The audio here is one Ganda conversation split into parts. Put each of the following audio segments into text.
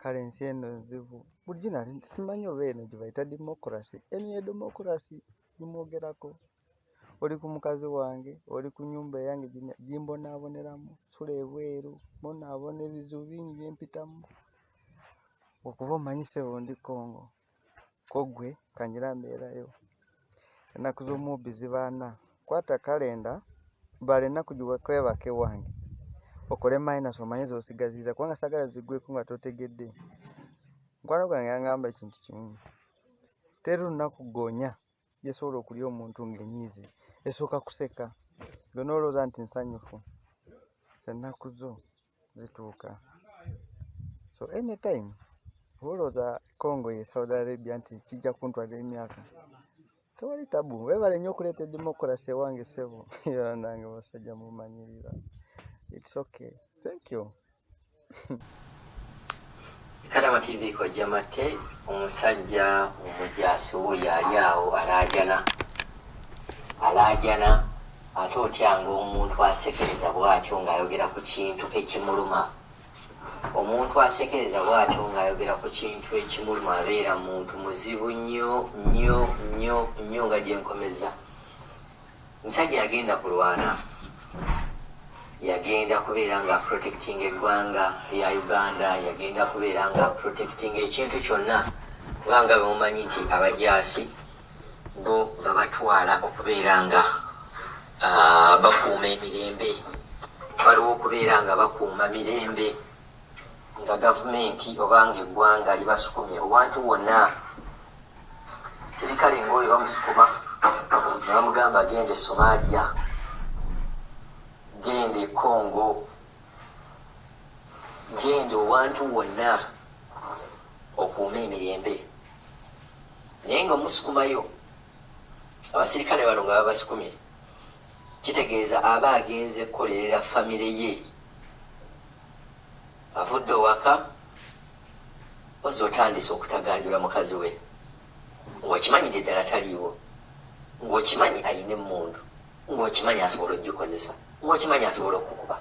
kale ensi eno nzibu bulijjo nali simanyi oba eno gyebayita democracy eno ye democracy gimwogerako oli ku mukazi wange oli ku nyumba eyange gimbonaaboneramu sula ebweru mbonaabona ebizibu bingi byempitamu okuba omanyisebo ndi kongo kogwe kanyira mbeerayo ennaku z'omubbi zibaana kwata kalenda bala ennaku gikwebaka ewange okole minus omanye zosigaziza kubanga sagala zigweko nga totegedde mukwano gwange yangamba ekintu kimu teri lunaku gonya gyesobola okulya omuntu ngaenyiizi esooka kuseka gwe nolowooza nti nsanyufu sennaku zo zituuka so anytime olowooza congo ye saudi arabia nti kijja kuntwala emyaka tewali tabu webale nnyo okuleeta edemocracy ewange sebo yolanange basajja mumanyirira its okay thank you Kadama TV kojja matte omusajja omujaasi wuyo ali awo alaajana alaajana ate otyanga omuntu asekereza bwatyo ng'ayogera ku kintu ekimuluma omuntu asekereza bwatyo ng'ayogera ku kintu ekimuluma abeera muntu muzibu nnyo nnyo nnyo nnyo nga gyenkomeza Musajja yagenda kulwana yagenda kubeera nga protecting eggwanga lya Uganda yagenda kubeera nga protecting ekintu kyonna kubanga bemumanyi nti abajaasi bo babatwala okubeera nga ah, bakuuma emirembe waliwo okubeera nga bakuuma mirembe nga gavumenti oba nga eggwanga libasukumye owantu wonna sirikale nga oyo bamusukuma ne bamugamba genda e somalia genda e congo genda owantu wonna okuuma emirembe naye nga omusukumayo abasirikale bano nga babasukumye kitegeeza aba agenze kukolerera famire ye Avudde owaka mpozzi otandise okutaganjula mukazi we ng'okimanyidde ddala taliiwo, ng'okimanyi alina emmundu, ng'okimanyi asobola ogikozesa, ng'okimanyi asobola okukuba.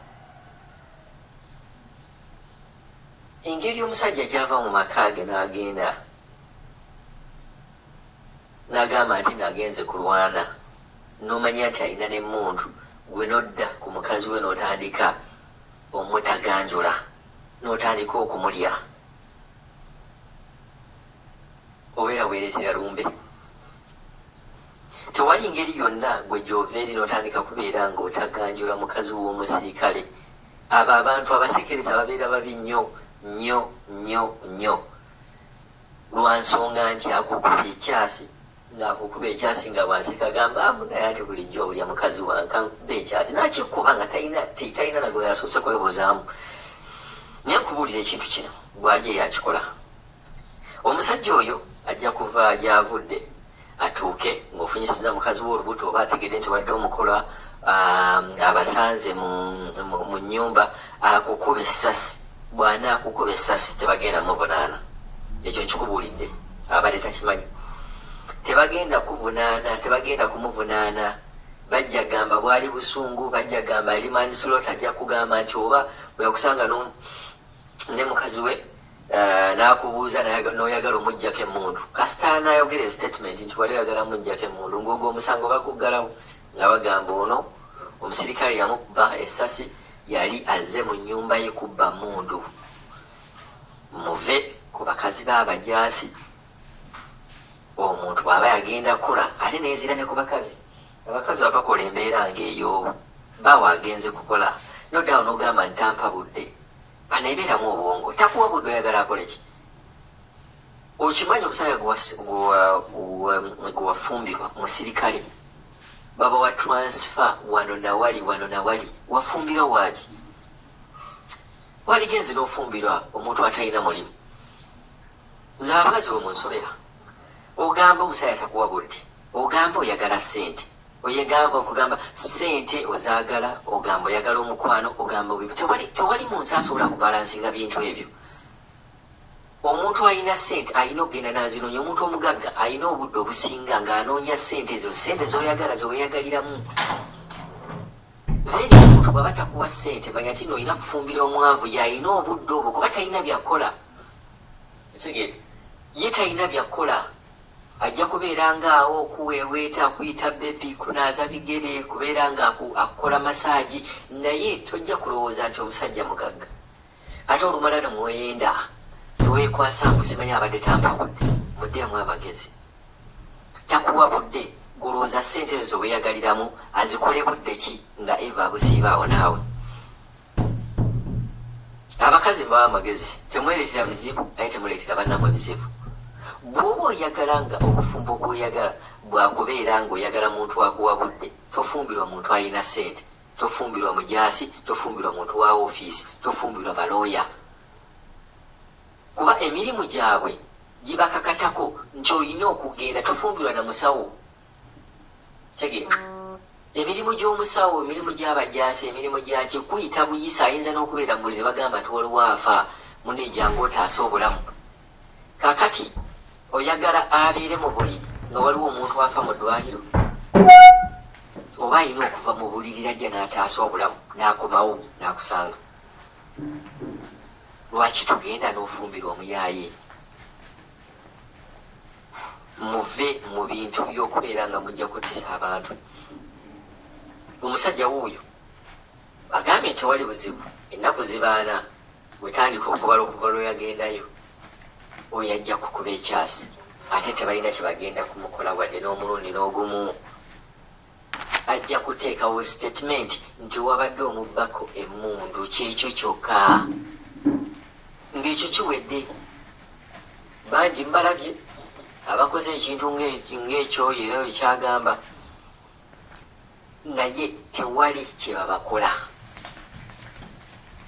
Engeri omusajja gy'ava mu maka ge n'agenda n'agamba nti nagenze kulwana n'omanya nti alina n'emmundu gwe n'odda ku mukazi we n'otandika omutaganjula notandika okumulya obeera weeretera lumbe tewali ngeri yonna gwe gyova eri notandika kubeera nga otaganjula mukazi w'omusirikale abo abantu abasekereza babeera babi nnyo nnyo nnyo nnyo lwa nsonga nti akukubye ekyasi nga akukuba ekyasi nga bwaseka agamba amu naye ate bulijjo olya mukazi wange kankuba ekyasi nakikuba nga talina talina nagwe yasoose kwebuzaamu naye nkubuulira ekintu kino gwali eyakikola omusajja oyo ajja kuva gyavudde atuuke ng'ofunyisiza mukazi we olubuto oba ategedde nti wadde omukola um, abasanze mu nyumba akukube sasi Bw'anaakukuba essasi tebagenda muvunaana. Ekyo nkikubuulidde. Abadde takimanyi. Tebagenda kukuvunaana, tebagenda kumuvunaana. Bajja gamba bwali busungu, bajja gamba yali manslota, ajja kugamba nti oba bwe yakusanga ne mukazi we eh, n'akubuuza n'oyagala omuggyako emmundu. Kasita anaayogera esitatimenti nti wali oyagala muggyako emmundu, ng'ogwo omusango baguggalawo. nga bagamba ono omusirikale yamukuba essasi yali azze mu nnyumba ye kubba mmundu muve ku bakazi b'abajaasi omuntu aba yagenda kula ate nezira ne ku bakazi abakazi abakola embeera ng'eyo baawa agenze kukola nodawo nogamba ntampa budde banaebeeramu obwongo takuwa budde oyagala akoleki Okimanyi omusajja gwewafumbirwa musirikale baba wa transfer wano nawali wano nawali wafumbirwa waki waligenzi nofumbirwa omuntu atalina mulimu nze abakazi bwe munsobera ogamba omusajja takuwa budde ogamba oyagala sente oyegamba okugamba sente ozagala ogamba oyagala omukwano ogamba tewali munsi asobola kubalansinga bintu ebyo Omuntu alina ssente alina okugenda n'azinoonya. Omuntu omugagga alina obudde obusinga ng'anoonya ssente ezo, ssente z'oyagala ze weeyagaliramu. Then omuntu bw'aba takuwa ssente manya nti no olina kufumbira omwavu y'alina obudde obwo kuba talina byakukola. Kitegeere ye talina byakukola ajja kubeera ng'awo okuweeweeta akuyita bebi kunaaza bigere kubeera ng'akukola masaagi naye tojja kulowooza nti omusajja mugagga. Ate olumala ne mwoyenda ne weekwasa mbu simanyi abadde tampabudde. Muddeemu amagezi. Takuwa budde gwe olowooza ssente ezo ze weeyagaliramu azikole budde ki nga Eva abusiiba awo naawe? Abakazi mbawa amagezi temwereetera bizibu naye temuleetera bannammwe bizibu. Bw'oba oyagala nga obufumbo bw'oyagala bwa kubeera ng'oyagala muntu akuwa budde tofumbirwa muntu alina ssente. Tofumbirwa mujaasi, tofumbirwa muntu wa wofiisi, tofumbirwa balooya kuba emirimu gyabwe gibakakatako nti olina okugenda. Tofumbirwa na musawo. Kitegeera? Emirimu gy'omusawo, emirimu gy'abajaasi, emirimu gyaki kuyita buyisa. Ayinza n'okubeera mu buliri ne bagamba nti waliwo afa, munne jjangu otaase obulamu. Kakati oyagala abeere mu buliri nga waliwo omuntu afa mu ddwaliro? Oba alina okuva mu buliri lajja n'ataasa obulamu n'akomawo n'akusanga. Lwaki tugenda n'ofumbirwa omuyaaye? Muve mu bintu by'okubeera nga mujja kuttisa abantu. Omusajja wuuyo agambye nti tewali buzibu ennaku zibaana. Wetandika okubala okuva lweyagendayo oyo ajja kukuba ekyasi ate tebalina kyebagenda kumukola wadde n'omulundi n'ogumu ajja kuteekawo statement nti wabadde omubbako emundu kyekyo kyokka ngaekyo kiwedde bangi mbalabye abakoze ekintu ngaekyoyo era ekyagamba naye tewali kyebabakola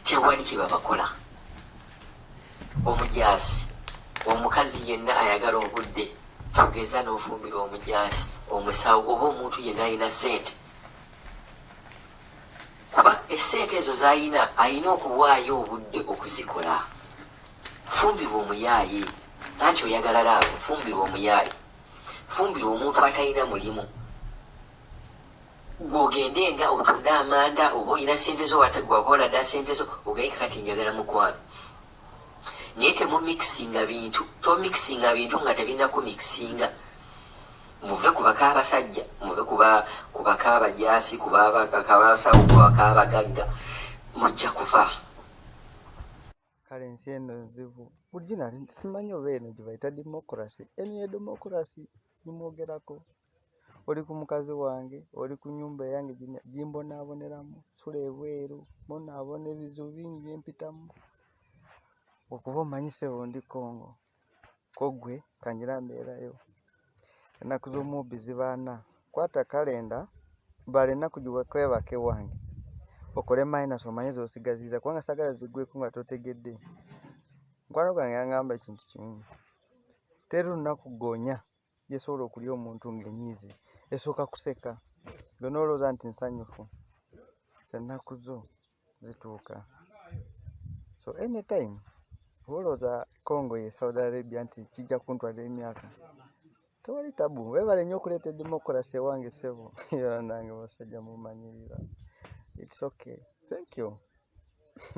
tewali kyebabakola omujaasi omukazi yenna ayagala obudde tugeza n'ofumbira omujaasi omusawo oba omuntu yenna alina sente kuba esente ezo zalina alina okuwaayo obudde okuzikola fumbirwa omuyaaye anti oyagala laavu fumbirwa omuyaaye fumbira omuntu atalina mulimu gwogende nga otunde amanda oba olina sente zo wakola dda sente zo ogayika kati njagala mukwano naye temumikisinga bintu tomikisinga bintu nga tebirina kumikisinga muve ku baka abasajja muve ku baka abajasi ku baka abasawo ku baka abagagga mujja kuva kale ensi eno nzibu bulijjo nali simanyi oba eno gyebayita democracy eno ye democracy gimwogerako oli ku mukazi wange oli ku nyumba eyange gimbonaaboneramu sula ebweru bonaabona ebizibu bingi byempitamu okuba omanyisebo ndi congo kogwe kangira mbeerayo ennaku z'omubbi zibaana kwata kalenda bala ennaku gikwebaka ewange okole minus omanye zosigaziza kubanga sagala zigweko nga totegedde mukwano gwange yangamba ekintu kimu teri lunaku gonya gyesobola okulya omuntu ngaenyiizi esooka kuseka gwe nolowooza nti nsanyufu ennaku zo zituuka so anytime olowooza congo ye saudi arabia nti kijja kuntwala emyaka tewali tabu webale nyo okuleeta edemocracy ewange sebo era nange basajja mumanyirira its okay thank you